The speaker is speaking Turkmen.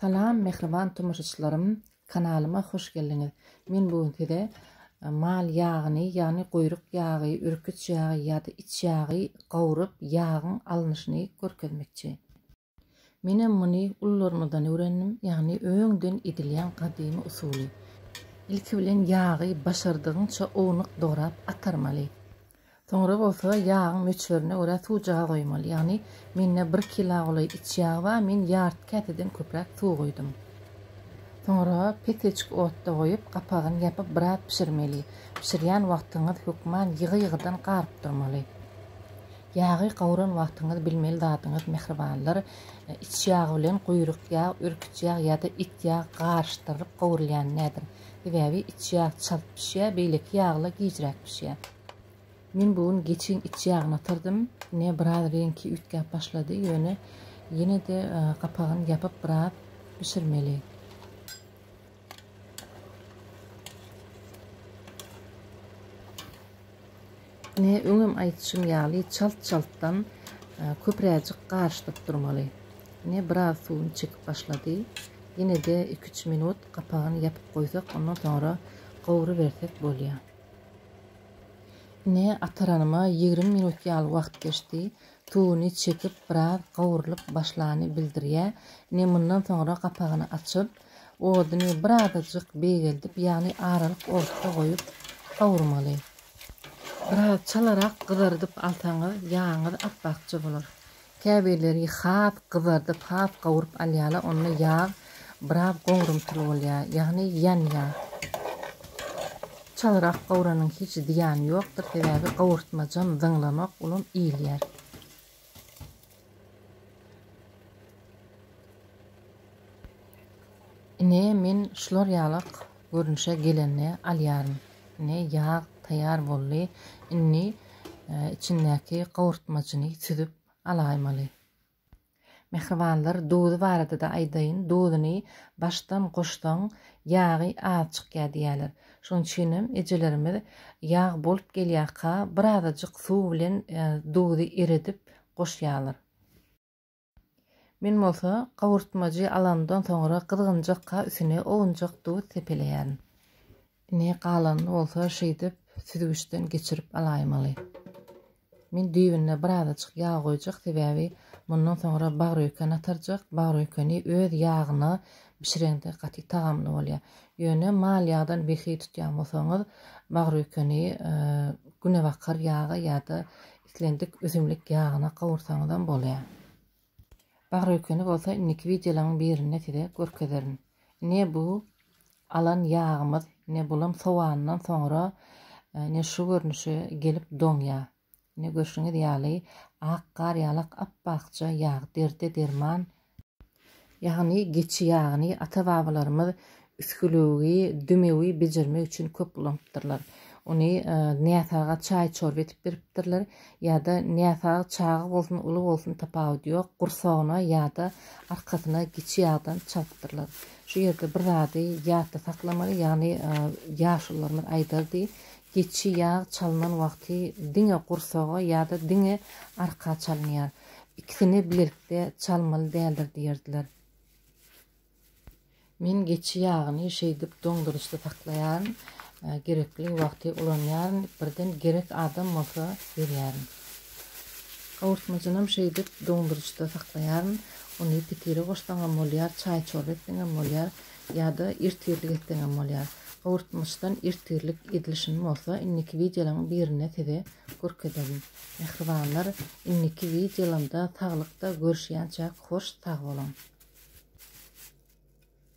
Salam mähriban tomaşaçylarym kanalyma hoş geldiňiz men bu gün size mal ýagyny ýagny guýruk ýagy ürküç ýagy ýa-da iç ýagy gawryp ýagyň alnyşyny görkezmekçi. Menem muny ullarymyzdan öwrendim ýagny öňden edilýän gadymy usuly. Ilki bilen ýagy başardygyňça ownuk dograp atarmaly. Soňra bolsa ýagyň möçberine görä suw jaga goýmaly. Ýagny mende bir kila golaý iç ýag bar, men ýarty käseden köpräk suw goýdum. Soňra peteçik otda goýup, gapagyny ýapyp biraz bişirmeli. Bişirýän wagtyňyz hökman ýygy-ýygydan garyp durmaly. Ýagy gawran wagtyňyz bilmeli zadyňyz mähribanlar, iç ýag bilen guýruk ýag, ürküç ýag ýa-da it ýag garyşdyrylyp gowrulýan dädir. Sebäbi iç ýag çalt bişýär, beýleki ýaglar gijräk bişýär. Men bu gün geçiň iç ýagyny ýatyrdym. Ine, biraz reňki üýtgäp başlady, ýöne ýene-de gapagyny ýapyp biraz bişirmeli. Ine, öňem aýdyşym ýaly, çalt-çaltdan köpräjik garyşdyryp durmaly. Ine, biraz suwuny çekip başlady. Ýene-de iki-üç minut gapagyny ýapyp goýsak, ondan soňra gowrubersek bolýar. Ine, ataranyma ýigrimi minut ýaly wagt geçdi. Tuguny çekip, biraz gowrulyp başlany bildirýä. Ine, mundan soňra gapagyny açyp, oduny birazajyk beýgeldip, ýagny aralyk otda goýup gowurmaly. Biraz çalarak gyzardyp alsaňyz, ýagyňyz apbakja bolar. Käbirleri has gyzarydyp, has gawuryp alýarlar, onda ýag biraz goňrumtyl bolýar, ýagny ýanýar. Çalyrak gawranyň hiç zyýany ýokdur, sebäbi gawurtmajam zyňlanok, olam iýilýär. Ine men şular ýalak görnüşe gelende alýaryn. Ine ýag taýýar boldy. Indi içindäki gowurtmajyny süzüp alaýmaly. Mähribanlar duzy barada-da aýdaýyn. Duzyny başdan goşsaň ýagy az çykýar diýýärler. Şonuň üçinem ejelerimiz ýag bolup gelýärka birazajyk suw bilen duzy eredip goşýarlar. Men bolsa gowurtmajy alandan soňra gyzgynjakka üsüne owunjak duz sepeleýärin. Ine, galanyny bolsa şeýdip süzgüçden geçirip alaýmaly. Men düýbüne birazajyk ýag goýjak, sebäbi mundan soňra bagrýuken atarjak. Bagrýukeni öz ýagyna bişireňde gaty tagamly bolýar. Ýöne mal ýagdan behi tutýan bolsaňyz, bagrýukeni günebakar ýaga ýa-da Islendik üzümlik ýagyna gowursaňyzam bolýar. Bagrökeni bolsa indiki wideolaň birinde size görkezerin. Ine bu alan ýagymyz, ine bulam sowandan soňra ine şu görnüşe gelip doňýar. Ine görşüňiz ýaly ak gar ýalak apbakja ýag derde derman Ýagny geçi ýagyny ata-babalarymyz üsgülewigi, dümewi bejermek üçin köp ulanypdyrlar. Ony näsaga çaý-çorba edip beripdirler ýa-da näsag çaga bolsun, uly bolsun tapawudy ýok, gursagyna ýa-da arkasyna geçi ýagdan çalypdyrlar. Şu ýerde bir zady ýatda saklamaly, ýagny ýaşulularymyz aýdardy, geçi ýag çalynan wagty diňe gursaga ýa-da diňe arka çalynýar. Ikisini bilelikde çalmaly däldir diýerdiler. Men geçi ýagyny şeýdip doňduryjda saklaýaryn, gerekli wagty ulanýaryn, birden gerek adam bolsa berýärin. Gawurtmajynam şeýdip doňduryjda saklaýaryn, ony pitire goşsaňam bolýar, çaý-çorba etseňem bolýar, ýa-da irtirlik etseňem bolýar. Gawurtmaçdan irtirlik edilişini bolsa indiki wideolaryň birinde size görkezerin. Mähribanlar indiki wideolamda saglykda görüşýänçäk hoş sagboluň.